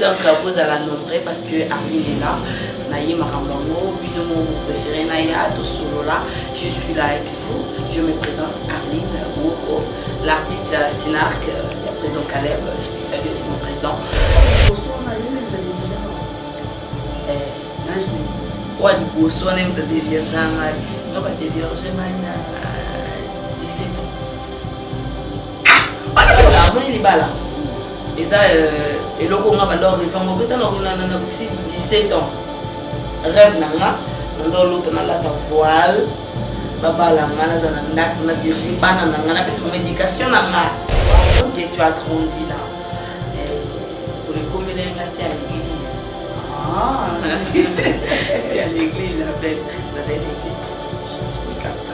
donc euh, bozala nombre parce que arline est là naye makambo yango bino moko bopréféré naya tosolola je suis là avec vous je me présente arline woko l'artiste euh, sinarc euh, le président caleb je te salue aussi mon président oa liboso wana moto adevierge ngai nga badevierge ngai na 17 ans ah, amoni libala eza euh, eloko nga banda orevanga obetanakokisi 17 ans rêve na nga nanda olota nalata voile babala nga naza na ndako na dirige bana na nga napesa bango éducation na nga donc tu as grandi là tolekomela euh, nga c'était à l'église ah. c'était à l'église avec nazali na église je suis comme ça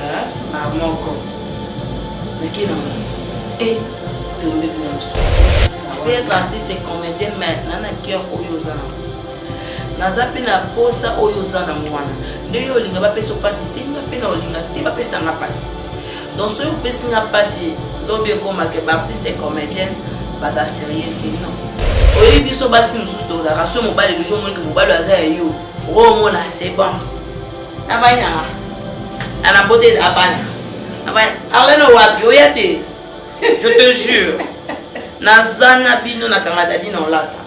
Ah, ba moko. Naki na moko. Eh, tombe bonso. Tu peux être artiste et comédienne, mais nana cœur oyo oza na naza mpe na posa oyo oza na mwana nde yo olinga bapesa mpasi te nga mpe na olinga te bapesa nga mpasi donc soki opesi nga mpasi lobi ekomake baartiste et comédienne baza sérieuse te non oyebi biso basi mosusu tozalaka so mobali lojo omonike mobali aza ya yo okomona c'est bon navandi nanga ana bote abana arlene wapi oya te je te jure naza na bino nakanga dadi na olata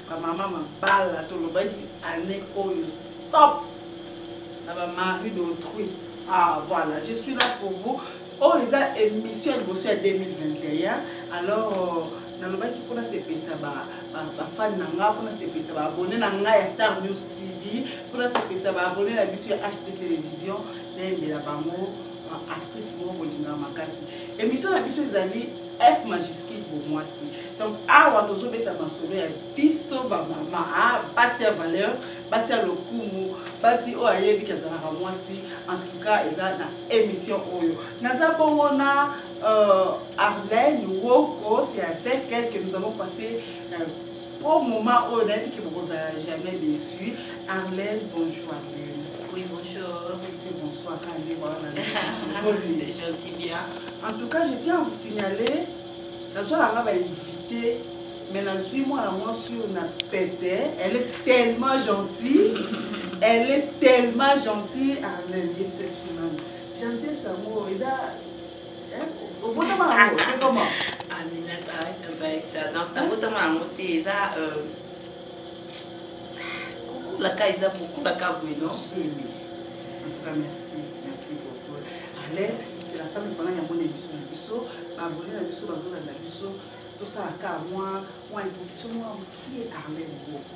ba mama mabala tolobaki année oyo stop na ba mari d'autrui ah voilà je suis là pour vous oyo oh, eza émission ya liboso ya 2021 alors euh, nalobaki mpona sepesa bafane na ngai mpona sepesa baabone na ngai ya star news tv mpona sepesa baabone na biso ya ht télévision nayembela bango euh, actrice moko bolinga makasi émission na biso ezali F majuscule bo mwasi. Donc awa tozo beta masolo ya biso ba mama a ah, basi ya valeur, basi ya lokumu, basi oyo ayebi ke azalaka mwasi. En tout cas eza na émission oyo. Naza bongo na euh, Arlène Woko, c'est avec elle que nous avons passé euh, Pour moment oyo nayebi ke bokozala jamais déçu. Arlène, bonjour Arlène. Oui, bonjour. Et bonsoir Kandi, voilà. C'est gentil bien. En tout cas, je tiens à vous signaler, la soirée là va inviter mais nazwi mwana mwasi oyo na pete elle est tellement gentille elle est tellement gentille arlène yebisa biso nani gentillesse yango eza obotama na yango c'est comment aminata abaekisa donc nabotama na yango te eza kokulaka eza kokulaka boye no merci merci beaucoup ale ezelaka mipona yango na biso na biso babone na biso bazolanda biso tosalaka mwa mwa introduction mwa mokie arlene boko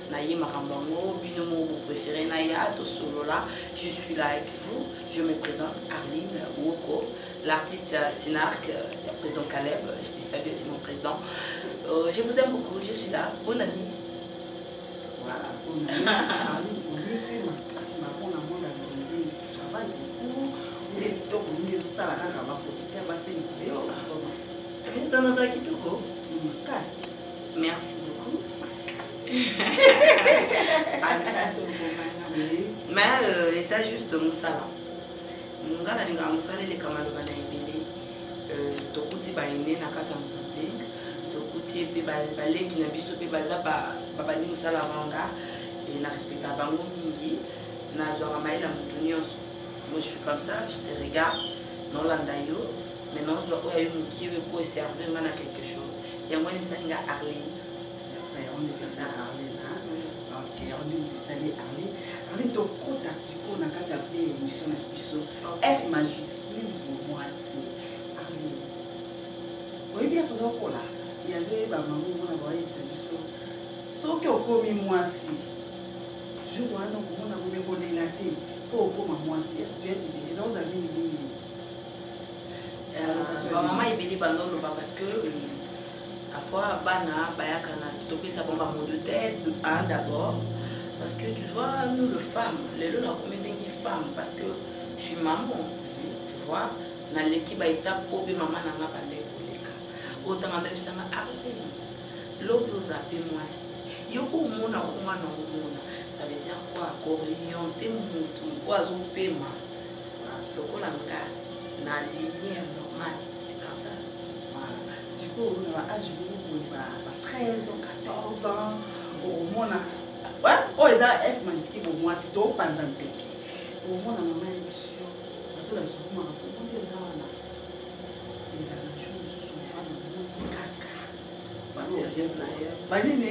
naye makambo yango bino moko bo préféré naya tosolola je suis là avec vous je me présente arline woko l'artiste sinarc ya président caleb je te salue c'est mon président euh, je vous aime beaucoup je suis là bonne année voilà bonne année makasi makona mona nzonzi travail beaucoup nde kitoko mingi ezosala kaka bafoto te basengisa yo eza nazala kitoko makasi Merci beaucoup. Mais euh, eza juste mosala. Nga nalingaka mosala eleka maloba na ebele. Euh, tokuti baine na kati ya nzonzi tokuti ye mpe baleki na biso mpe baza babandi mosala wanga e na respecta bango mingi nazwaka mai na motu nyonso moi je suis comme ça je te regarde nolanda yo mais nazwa oyo ayo mokie oyo ekoyo servir nga na quelque chose yango wana esali nga arline arline tokota sikoyo na kati ya mpe émission na biso f majuscule bomwasi arline oyebi ya toza kola yave bamama omona baoyebisa biso soki okomi mwasi jour wana okomona komekolela te mpo okoma mwasi esi tuyaki te eza ozali mingi Euh, ba maman ebele bando loba parce que à fois bana bayaka na topesa bango bango de tête un d'abord parce que tu vois nous le femme lelo nakomi ndenge femme parce que je suis maman tu vois naleki baetape oyo mpe mama na nga bandai koleka oyo ntango andabisanga arlene lobi oza mpe mwasi yo mpo omona omwana omona ça veut dire quoi koriente motu mpo azopema lokola nga na ligne ya normal c'est comme ça sikoyo na ba age moko boye ba 13 ans 14 ans omona oyo eza f majuscule bo mwasi topanza nteke omona mama ya biso azolakisa komaka kokundi eza wana ezala jour mosusu mvana kaka banini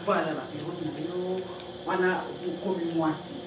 voilà baperiode na yo wana okomi mwasi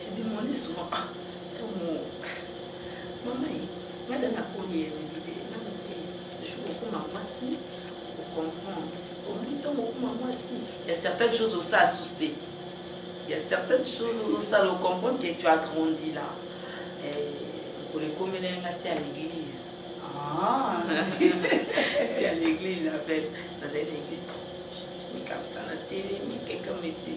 je demandais souvent ah omo mama ye nga da nakoli ye me disait nano te jour okoma mwasi ocomprendre omi ntongo okoma mwasi ya certaines choses osa asusu te ya certaines choses ozosala ocomprendre que tu as grandi là mokolo ekomela ye nga site ya l'église ah. site ya l'église en fait nazali na église je suis mis comme ça na telemi quelqu'un me dit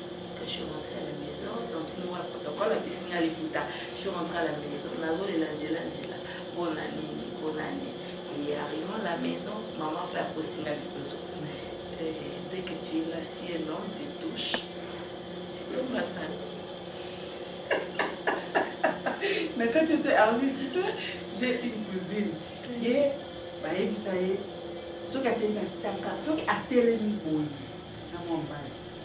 Quand je suis rentrée à la maison, tantine moi protocole apesi nga liputa. Je suis rentrée à la maison, nazolela nzela nzela mpona nini mpona nini et arrivant à la maison maman mpe akosinga lisusu dès que tu es là si un homme te touche tu tombes à sale mais quand tu étais armé tu sais j'ai une cousine ye bayebisa ye soki atelemi ataka soki atelemi boye na mwa mbala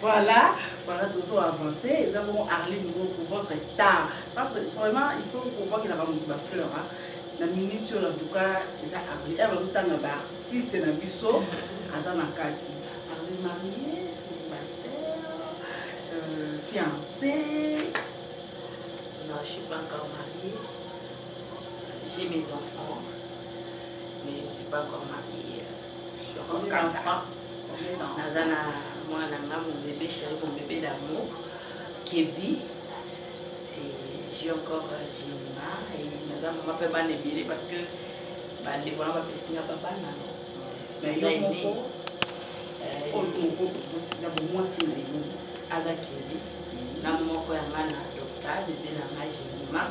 voilà voilà tozo avance eza bongo arline moko votre star parce que vraiment il faut kobakelaka moto bafleur na minute oyo en tout cas eza arline aya bazotanga baartiste na biso aza na kati arline marie fiancée Non, je ne suis pas encore mariée. J'ai mes enfants, mais je ne suis pas encore mariée. Je suis encore comme ça. Naza na mwana na nga mon bébé chéri, mon bébé d'amour, Kebi. Et j'ai encore euh, Jima et naza mama mpe bana ebele parce que bandeko na bapesi nga babana. Naza aimé. Aza Kebi. Na moko ya nga na Dokta, bébé na nga Jima.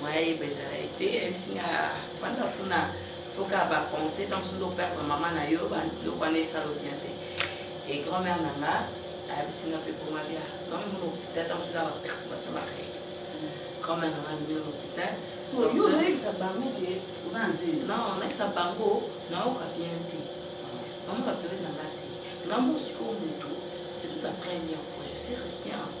moyen yeba ezala ye te ayebisi nga fanda kuna foka ba conseil ntango mosusu operdre mama na yo biloko wana esalo bien te e grand mère na nga ayebisi nga mpe poma bia donc mona hôpital ntango mosusu ba perturbation ba règle grand mère na nga bimi na hôpital oyebisa bango ke oza na nzeli non nayebisa bango nayoka bien te mama ba periode na nga te nga mosiko motu c'est toute la première fois je sais rien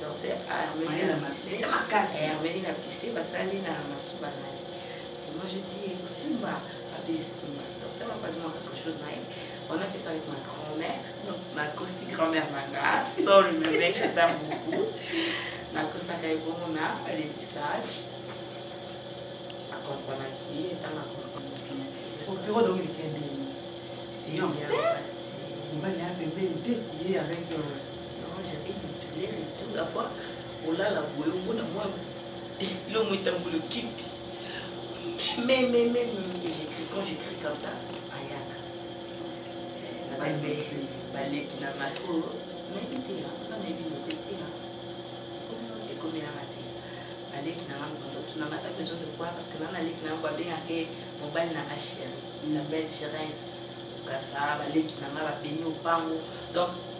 docteur armeli na pise ya makasi eh, armeli na pise basali na masuba na ye et moi je dis ekosimba abe esimba docteur apazi mwa quelque chose na ye on a fait ça avec ma grand-mère nakosi grand-mère na nga sol meme j'attend beaucoup nakosaka ye bongo na letissage akomprenaki etanga akomprenaki bien opiro donc elekende enceinte mobali ya pembeni te tiye avec euh, Non, j'avais des douleurs et tout. La fois, olala boye omona mwa lomo etambolo kipi. Mais, mais, mais, j'écris quand j'écris comme ça, ayaka. Euh, baleki na masque oyo nayebi te ya nga nayebi noze te ya ekomelanga te baleki na ngango bandoto na mata besoin de quoi parce que nga naleki na ngango babengake mobali na nga chéri isabelle chérese kasa baleki na nga babeni opango donc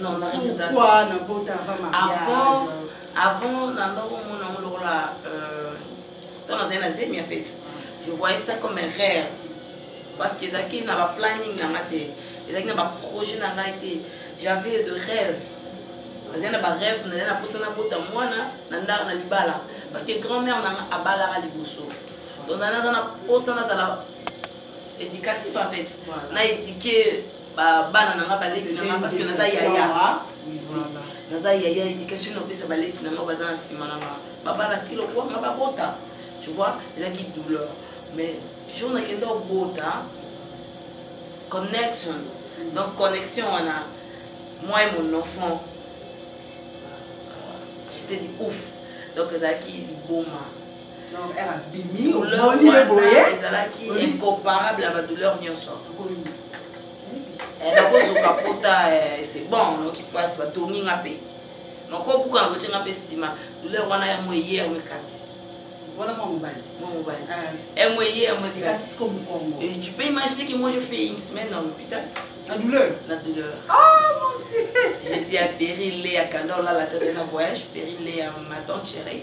non na regreta pourquoi na bota avant mariage avant avant na ndoko mona ngo lokola euh tant na zena zemi en fait je voyais ça comme un rêve parce que ezaki na ba planning na ngate ezaki na ba projet na ngate j'avais de rêve nazali na barêve nazali na mposa nabota mwana na ndako na libala parce que grand mère nanga abalaka liboso donc naza na mposa nazala éducatif en fait na éduquer bana na nga baleki na nga parce que naza yaya naza yaya éducation naopesa baleki na nga baza na nsima na nga babalaki lokwa nga babota tu vois ezalaki douleur mais jour nakenda obota connection donc connexion wana moi et mon enfant euh, j'étais du ouf donc ezalaki liboma ezalaki incomparable ya badouleur nyonso nakozoka pota se bon noki mpasi batongi nga mpe makobuka na kotye nga mpe nsima douleur wana yango eye yango ekati Voilà mon mobile. Mon mobile. Ah. MOE, MOE. Et tu peux imaginer que moi je fais une semaine dans l'hôpital. La douleur La douleur. Oh mon dieu J'étais à Péry, Léa, Kandor, là, la thèse d'un voyage, Péry, Léa, ma tante chérie.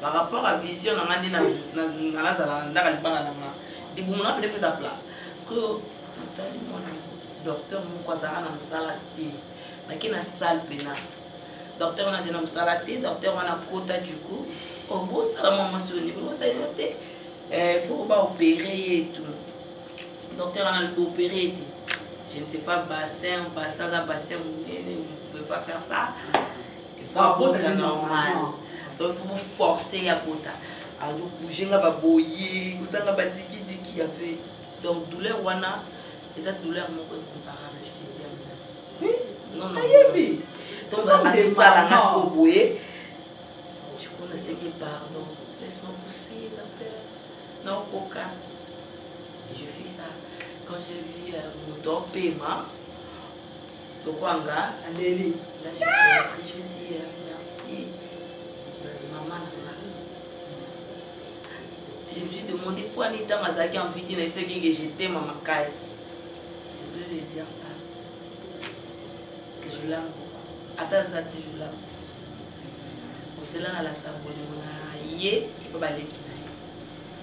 par rapport à vision na nga nde nga nazala ndaka libala na nga libumu na pedefe eza plat sikoyo natali mwana docteur moko azalaka na mosala te nake na sale pena docteur wana azali na mosala te docteur wana kota du coup obosala oh, mwa mwasi oyo ndibosali yo te eh, faut baopere ye tu docteur wana baopere ye te je ne sais pas bassin bassin aza bassin monene ne pouvez pas faire ça il faut abota normal donc il faut boforce ya bota ado bouge nga baboye kosanga badikidiki ya ve donc douleur wana eza douleur moko incomparable je te dis oui non non ayebi donc adosala nga siko boye du coup naseki pardon laisse-moi pousser la terre non coca et je fais ça quand j'ai vu euh, mon temps paiement lokola nga aleli la je veux dire merci mama na nga je me suis demandé mpo ani ntango azalaki envite na yebisaki ke je t'aime ma makasi je voulais lui dire ça que je l'aime beaucoup ata aza te je l'aime osela nalakisa bolingo na ye epo baleki na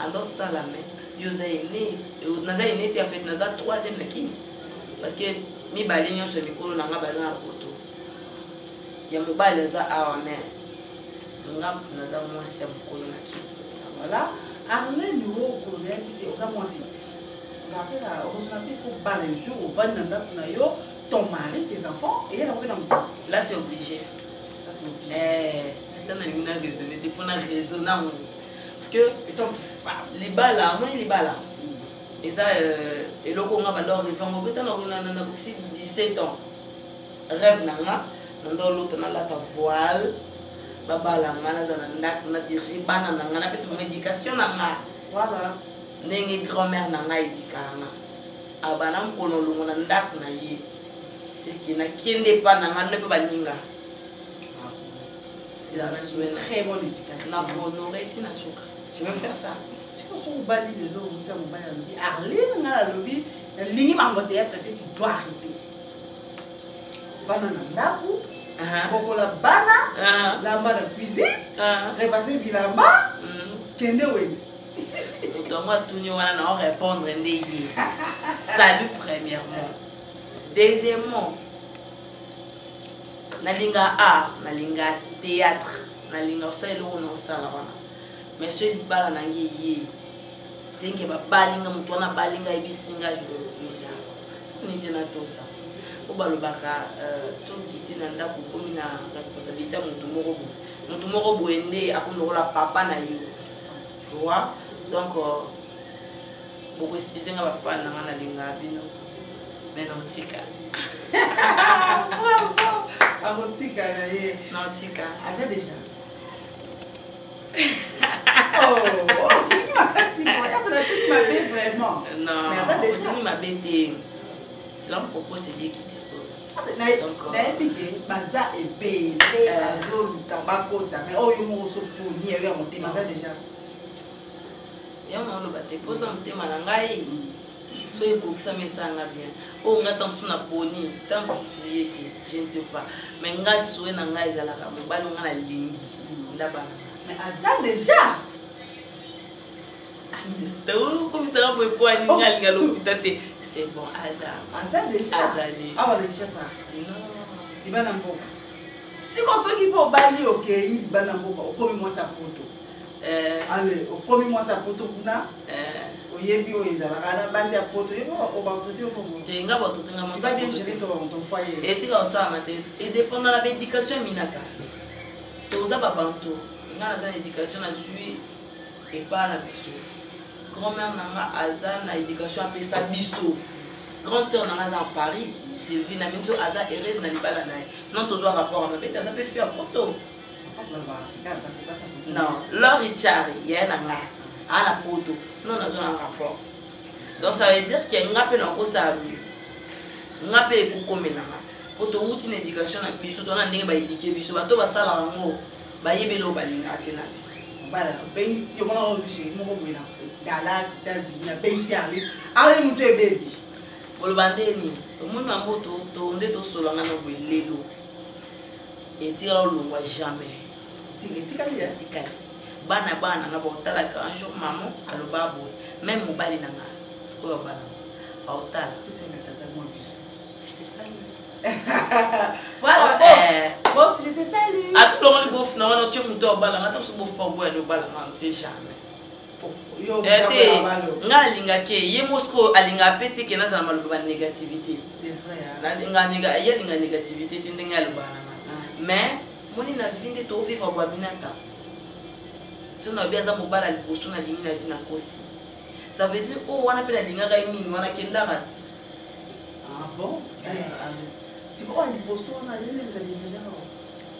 alors sala me yo oza ene naza ene te afete naza troisième na kini parce que mibale nyonso ya mikolo na nga baza na poto ya mobali aza awa me nga moto naza mwasi ya mokolo na kini voilà arlene oko oyebi te oza mwasi ti oza mpe na ozozona mpe fo bala jour ovandi na ndako na yo ton mari tes enfants eye na koyena moto là c'est obligé eh, ata nalingi na raisonne te mpo na raisonne yango parce que etant que femme libala amoni libala eza euh, eloko nga banda oreve yango mpe ntango nakokisi 17 ans rêve na nga nanda olota nalata voile babala nga naza na ndako nadirige bana na nga napesa bango éducation na nga ndenge grand-mère na nga edikaka nga abana mokolo olongo na ndako na ye seki nakende epa na nga nde mpe baninga très bonne éducation na honore ti na suka je veux faire ça sikoyo soki obali lelo okoyika mobali alobi arline ngai alobi nalingi bango théâtre te tu dois arrete vana na ndako bokola bana lamba na cuisine repase bilamba kende wenze moto yango atuni wana na orépondre nde ye salut premièrement deuxièmement nalinga art nalinga théâtre nalinga osala eloko na osala wana mais soki libala na ngai eye senke babali nga moto wana abali nga ayebisi nga jolokuisa nini te natosa mpo balobaka euh, soki te na ndako okomi na responsabilité ya moto moko boye moto moko boye nde akomi lokola papa na yo wa donc euh, boko excuse nga ba fan na nga na linga bino mais na otika bravo akotika na ye na otika aza déjà vraiment mabe te l'homme propose c'est dieu qui dispose ah, nayebi ke euh, baza ebele euh. bazoluka bakota mais oyo moko osoponi eyo ya motema aza déjà yango oloba te mposa motema na ngai soki ekokisami esanga bien oyo ngai ntango mosusu naponi ntango mosusu ye te je ne sais pas mai ngai soye na ngai ezalaka mobali ngai nalingi ndabana mais aza déjà okomisaka boye po alingi oh. alinga lokuta te c'est bon aza aza déjà azali awa ah, déjà ça non libana mboka sikoyo soki mpo obali okei libana mboka okomi mwasi ya poto Eh. ale okomi mwasi ya poto kuna eh. oyebi oyo ezalaka na basi ya poto oyebi obaautorité te nga baautorité nga mwasi bien géré ton foyer etika osalama te edépenda na baéducation minaka toza babanto nga naza na éducation nazwi epa na biso grand mère na nga aza na éducation apesa biso grande sœur na nga aza en paris sylvie na minso aza heureuse na libala na ye non tozwa rapport ya mabe te aza mpe fi ya poto non lori chari yaye na nga aa na poto no nazwa na rapport donc ça veut dire ke nga mpe nakosala mieux nga mpe ekokomela nga mpo towuti na éducation na biso tona ndenge baedike biso bato basala yango bayebi eloko balinga te na obengisi yo mwana oyo sheri moko boye na dallas états-unis abengisi yango aoye moto ebebi oloba nde nini omoni mambo nde tosolanga na boye lelo etikala olongwa jamais etikali etikali bana bana na baotalaka un jour maman aloba boye meme mobali na nga oyo abala aotala atolongoli bof na wana otye moto abalanga ata mosu bof pa oboya ni obalanga nse jamais te nga nalinga ke ye mosiko alinga mpe te ke nazala maloba ya négativité ye alinga négativité te ndenge alobaka na nga mais moni na vi nde tovivre bwaminata so na yobi aza mobala liboso nalingi na vi na kosi ça veut dire oyo oh, wana mpe nalingaka ye mingi wana kendaka ti ah bon eh, eh, eh. sikoyo liboso wana ye nde mizali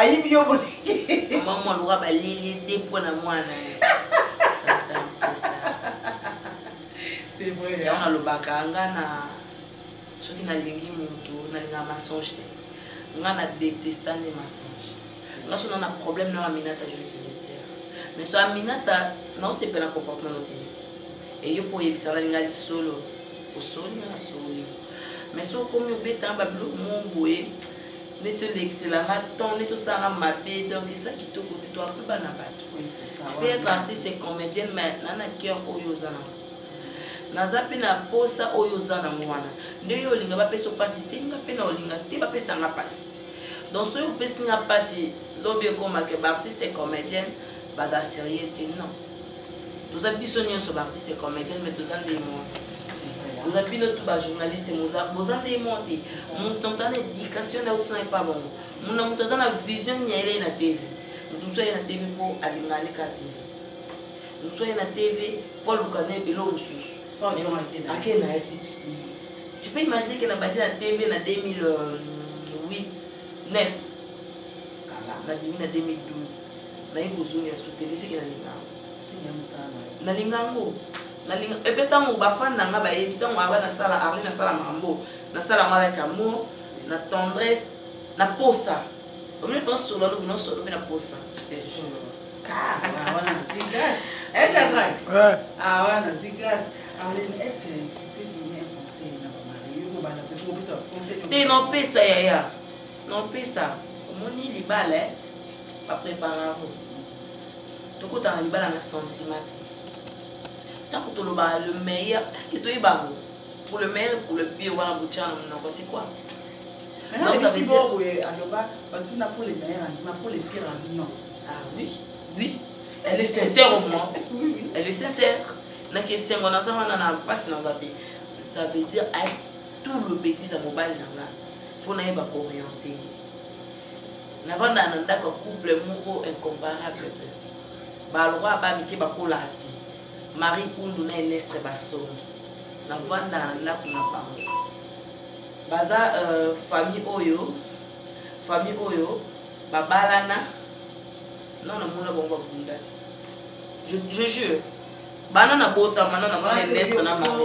ayibi yo mama mwaluka baleli te mpo na mwana yango nalobaka nga na soki nalingi motu nalingaka masonge te nga na detesta nde masonge nga so na na problème na baminata joue kiletiere mais so aminata naosepela comportement no te eyo mpo oyebisa nalinga lisolo osoli nga nasoli mais soki okomi obetanga babiloko moko boye neti olekiselanga temps neti osalanga mabe donc eza kitoko te toape bana bato pe être artiste et comédienne mais na na cœur oyo oza nango naza mpe na posa oyo oza nango wana nde yo olinga bapesa mpasi te nga mpe na olinga te bapesanga mpasi donc soki opesi nga mpasi lobi ekomake baartiste et comédienne baza sérieuse te non toza biso nyonso baartiste comédienne mais toza nde monte boza bino tu bajournaliste boza nde monte moto moto ana éducation na uti na epa bango mona moto aza na vision nini ayelei na tv moto mosusu aye na tv mpo alingaka nde kaka tv mosusu aye na tv mpo aluka nde eloko mosusu ake na ye tiki tu peux imaginer ke na bandi na tv na 2008 9 nabimi na 2012 naye kozoni ya sutele seke nalinga nalinga yango nalinga epe ntango bafani na nga bayebi ntango aba nasala arli nasala mambo nasala yango avec amour na tendresse na posa omini nosolo alobi nosolo mpe na posa echadrak awana zwi grâce arlene est ce que tu peux donner un conseil na bamari yo kobanda te sokopesa conseil te nopesa yaya non pesa omoni libala eh? baprepare yango tokota na libala na sentiment te ntango tolobaka le meilleur estce toyeba yango pour le meilleur pour le pire wana botya na monoko c'est quoi non ça veut dire boye aloba batuna pour le meilleur andima pour le pire abi non ah oui oui elle est sincère au moins elle est sincère naki esengo naza wana na mpasi naza te ça veut dire tout le betise ya mobali na nga fo nayeba kooriente ye navandaka na ndako ya couple moko incomparable balroi ba mike bakolaka te marie undu na enestre basongi navandaka na ndako na bango baza euh, famille oyo famille oyo babalana non namona bango babunda te je jure bana na botama na namona enestre na mari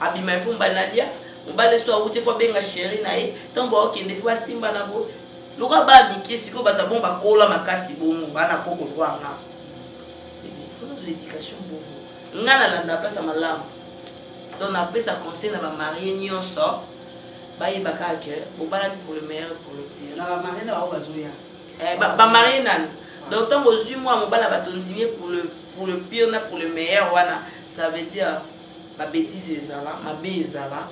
abima efo mbali nalia mobali eso awuti efo abenga sheri na ye ntango baokende efo basimba na boye lokola baa mike sikoyo bato abongo bakola makasi bongo bana koko lwanga efo nazwa éducation bongo nga nalanda place ya malamu donc napesa conseil na bamarie nyonso bayebaka ke bobalani pour le meilleur pour le pire na bamarie na bango bazoya Eh, ba, ba marie nani donc ntango ozwi mwa mobala bato ondimi pour le, pour le pire na pour le meilleur wana ça veut dire babétise ezala mabe ezala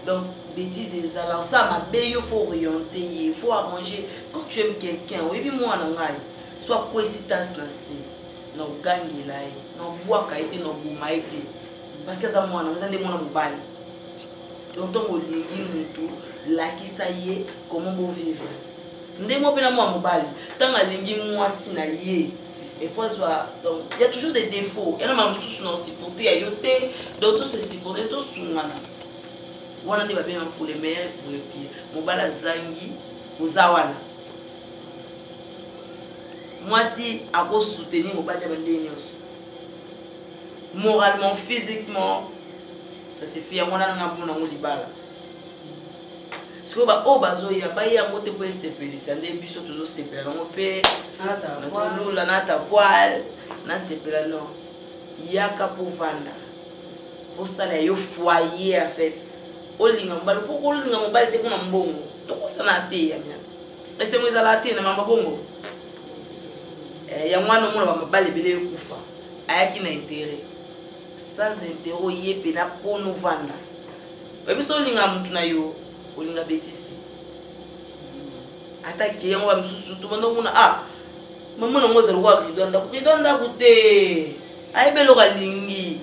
donc bétise ezala osala mabe yo faut oriente ye faut arranger quand tu aimes quelqu'un oyebi mwana ngai so akwesi tasi na se na ogangela ye na obwaka ye te na oboma ye te parce que aza mwana eza nde mwana mobali donc ntango olingi motu lakisa ye comment bovivre ndenge moko mpe na mwana mobali ntango alingi mwasi na ye efo azwa donc il y a toujours des défauts yana ma mosusu na osupporte ya yo te donc tosesupporte tosungana wana nde babengaka pour le meilleur et pour le pire mobali azangi oza wana mwasi akosoutenir mobali ya bandenge nyonso moralement physiquement ça se fait yango wana nanga mpo nango libala sikoyo baoyo bazoya baye yango te mpo esepelisa nde biso tozosepela nango mpe nazolula na ta voile nasepela no yaka mpo vanda osala yo foyer en fait olinga mobali mpo kolinga mobali te mpona mbongo tokosana te ya miata esengo ezalaka te na mamba bongo eh, yango wana omona bamabali ebele ekufa ayaki na intere sans intere oye mpe na mpono vanda oyebi so olinga motu na yo olinga betise te ata ke yango ba misusu tobanda komona a ah, mama nango ezali kwa rido ya ndako rido ya ndako te ayebi eloko alingi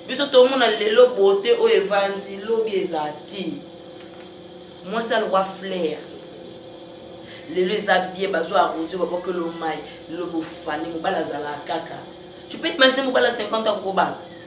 biso tomona lelo bote oyo evandi lobi eza te mwasi alokwa flair lelo eza bie bazwa arrosio babokelo mai lelo bofani mobali azalaka kaka tu peux imagine mobali ya 50 akokobala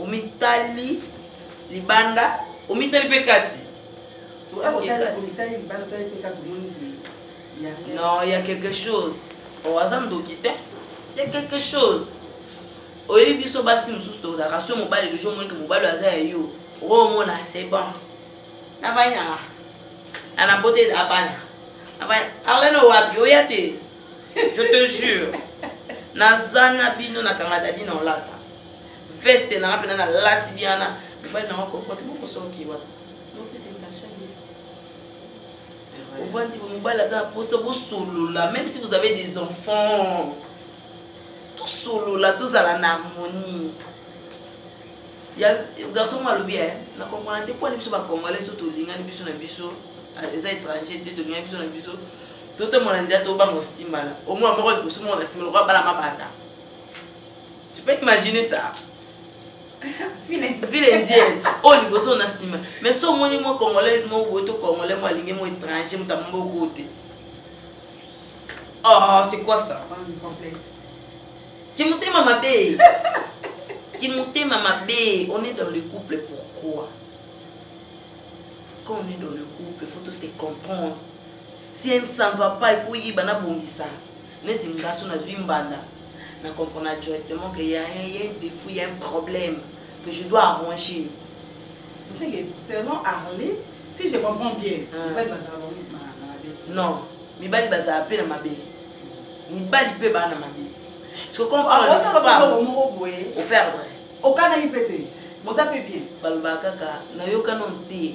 omitali libanda omitali mpe kati non ya quelque chose o oh, aza ndoki te ya quelque chose oyebi biso basi mosusu tozalaka so mobali lejo omonike mobali aza ya yo okomona oh, c'est bon navai nanga nanabote abana arlene wapi oya te je te jure naza na bino na kanga dadi na olata veste nanga mpena nalati biana mobali nanga kompote mokosoki wana ovandi mobali aza na posa bosolola même si vous avez des enfants tosolola tozala na harmonie ya garçon moko alobi e na comprendre te mponi biso bacongolais so tolingani biso na biso ah, eza étranger te tolingani biso na biso totombola na nzela tobanga kosimbana omona moko liboso moko na nsima lokola bana mabata tu peux imaginer ça ville indienne oyo oh, liboso na nsima mais so omoni mwa congolaise moko boye to congolais mo alingi mo étranger moto amoboko te oh c'est quoi ça kimotema mabe kimotema mabe on est dans le couple pourquoi quand on est dans le couple faut to se comprendre si un santu apa il faut yiba na bongisa neti ngaso nazwi mbanda na comprendre directement que ya un défaut ya un problème que je dois arranger c'est que selon arle si je comprends bien mibali bazala bango na mabe non mibali bazala mpe na mabe mibali mpe baa na mabe ce qu'on parle de femme moko boye operdre okanaki mpe te boza mpe bien balobaka kaka nayokana te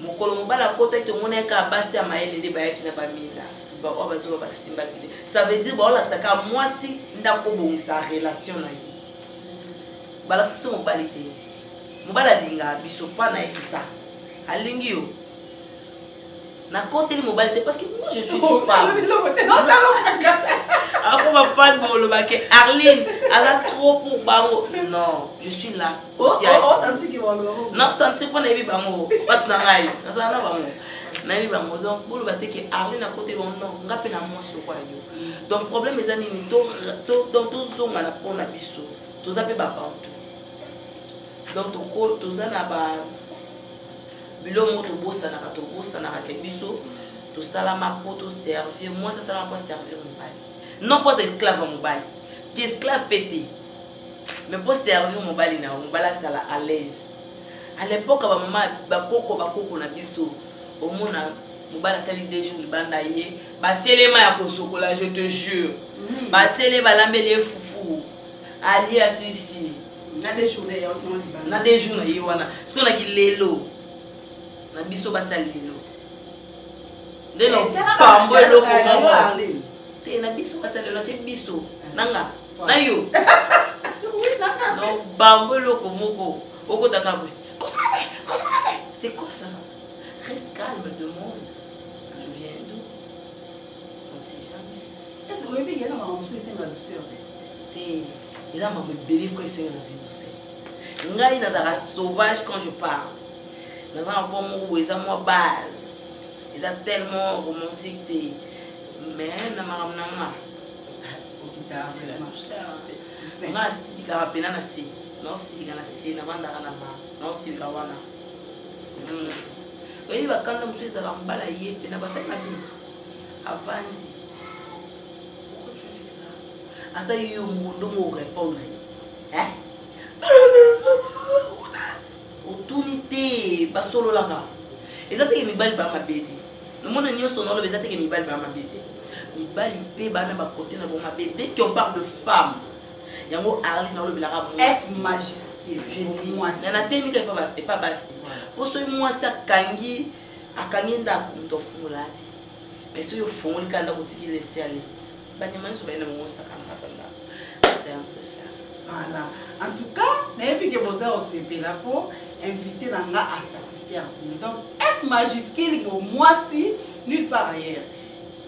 mokolo mobali akotaki tomona ye kaka basi ya mayele nde bayaki na bamina baoyo bazoba basimbaki te ça veut dire baolakisa kaka mwasi nde akobongisa relation na ye balakisa so mobali te mobali alingaka biso mpa na ye sisa alingi yo nakoteli mobali te parce que moi je suis oh, femme apo bafane bolobake arline aza trop pour bango non je suis là nasentir mpo nayebi bango bato na ngai nazala na bango nayebi bango donc boloba te ke arline akoteli bango non nga mpe na mwasi oko ya yo donc problème eza nini tozongana mpo na biso toza mpe babantu donc toza na ba biloko moko tobosanaka tobosanaka ke biso tosalama mpo toservir mwasi asalama mpo aservir mobali non mpo aza esclave ya mobali te esclave mpe te mais mpo servir mobali na yo mobali azala à l'aise à l'époque bamama bakoko bakoko na biso omona mobali asali deux jours libanda ye batelema ya kosokola je te jure mhm. batele balambeli ye fufu alia sisi na de jour na ye wana soki olaki lelo na biso basali lelo nde eh, nopambo eloko moko te na biso basali lelo atye biso nanga na yo nobambo eloko moko okotaka boye c'est quoi ça reste calme demande ese oyebi yena makambo mosusu esenga douceur te te eza makambo ebele fo esenga na vie douceur ngai nazalaka sauvage quand je parle naza na voi moko boye eza mwa base eza tellement romantique te mais na makambo na nga nga nasilikaka mpena na se naosilika na se nabandaka na ma naosilika wana mm. oyebi bakanda mosusu ezala mbala ye mpe na basali mabe avandi pourquoi tu as fait ça ata yo moko ndongo orépondre hein otuni te basololaka eza teke mibali baa mabe te lomona nyonso naoloba eza teke mibali baa mabe te mibali mpe bana bakote na bango mabe dès qu'on parle de femme yango arli naolobelaka mwasi je dis na natemi kaka epa basi mpo soki mwasi akangi akangi ndako moto afungola adi mais soki ofungoli kaka ndako otiki lesi ale banyama nyonso bayenda bango osakana kati ya ndako c'est un peu ça voilà en tout cas nayebi ke boza osepela mpo invité na nga asatisfaire bino donc f majuscule bo mwasi nulle part ailleurs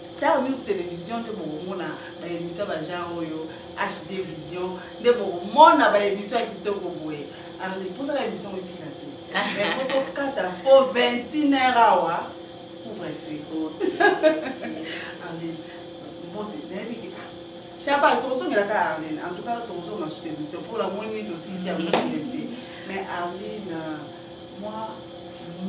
star news télévision nde bokomona baémission bagenre oyo hd vision nde bokomona baémission ya kitoko boye alors eposaka émission yango esila te mais faut tokata mpo 21 heure awa couvre-feu arlene mbote nayebi ke chapa tozongela kaka arlene en tout cas tozonga susu émission mpo namoni tosisi yango te mais arlene mwa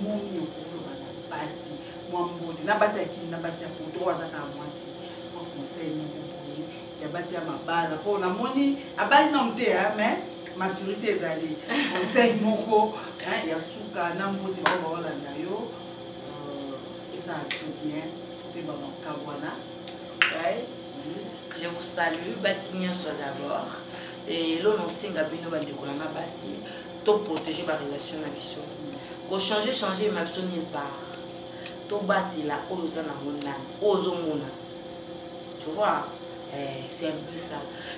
moni okoloba na basi mwa mbote na basi ya kini na basi ya poto oyo azaka mwasi mwa conseil moko boye ya basi ya mabala mpo namoni abali nano te mais maturité ezali conseil moko ya suka na mbote bao baolanda yo euh, eza to bien mpe bamakambo wana je vous salue basi nyonso d'abord elo nosenga bino bandeko na na basi toprotege barelation na biso kochange change ema biso nil part tobatela oyo oza nango nani oyo ozomona tu vois eh, c'est un peu ça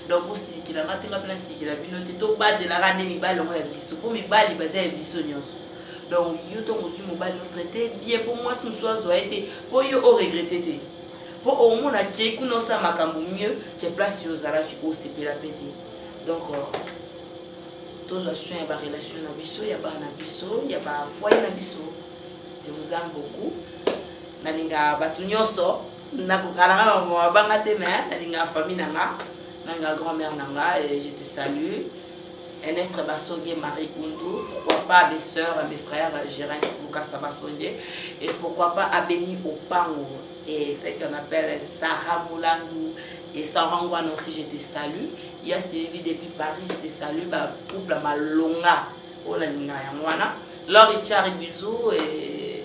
donc bosilikela nga te nga mpe nasilikela bino te tobatelaka nde mibali yango ya biso mpo mibali baza ya biso nyonso donc yo ntongo ozwi mobali otraite bien mpo mwasi mosusu azwa ye te mpo yo oregrete te mpo omona ke kuna osala makambo mieux ke place yo ozalaki osepela mpe te donc euh, tozwa soin ya barelation na biso ya bana na biso ya bafoye na biso je vous aime beaucoup nalinga bato nyonso nakokana kaka mama abanga te mais nalingaka famille na nga nalingaka grand mère na nga et je te salue Enestre Basonge, Marie Koundou, pourquoi pas mes soeurs, mes frères, Gérens Boukassa Basonge, et pourquoi pas Abeni Opango, et celle qu'on appelle Sarah Moulandou, et Sarah Ngwan aussi, je te salue. Il y a Sylvie depuis Paris, je te salue, bah, couple Malonga, oh la linga, Lori Chari, bisous, et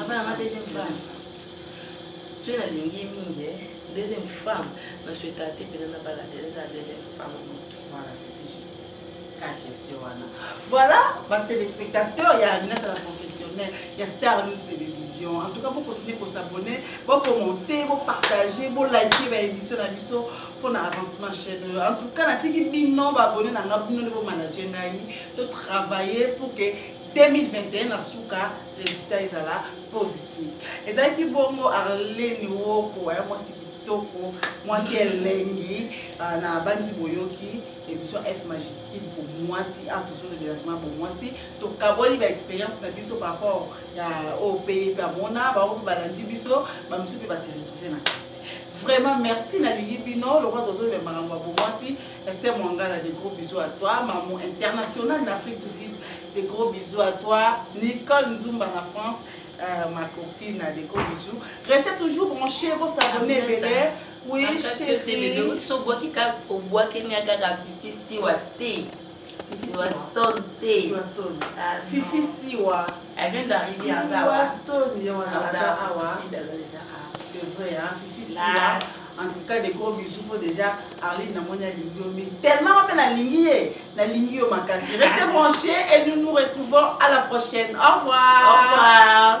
abala nga deuxième femme soki nalingi ye mingi eh, deuxième femme nasueta te mpena nabala te eza deuxième femme motu voilà c'était juste ka question wana voilà batelespectateur ya aminata la professionnelle ya star news télévision en tout cas bokontinue kosabonne bokomonte bopartage bolike baémission na biso mpona avancement chaîne oyo en tout cas natiki bino baabonne na nga bino nde bomanage ngai totravaille pour que 2021 na suka resultat ezala positif ezalaki bongo arleni woko ya mwasi kitoko mwasi elengi ah, na banzi boyoki émission f majuscule pour mwasi a toujours le développement pour mwasi tokaboli baexpérience na biso par rapport ya oyo oh, mpe mpe amona bango mpe balandi biso bamosusu mpe base retrouve na kati vraiment merci nalingi bino lokola tozoloba makambo ya bomwasi Esther Mwangala, des gros bisous à toi. Maman internationale d'Afrique du Sud, des gros bisous à toi. Nicole Nzumba na France, euh, ma copine, des gros bisous. Restez toujours branchés, vous s'abonnez, Bélé. Oui, chérie. Soboki ka obwaki nya kaka fifi siwa te. Siwa stone te. Siwa stone. Ah, fifi siwa. Elle vient d'arriver à Zawa. Siwa stone, yo wana Zawa. C'est vrai, hein, fifi siwa. En tout cas, des gros bisous. Moi, déjà, Arline, na moni alingi yo mingi. Tellement, mais na lingi ye. Na lingi yo makasi. Restez branchés et nous nous retrouvons à la prochaine. Au revoir. Au revoir.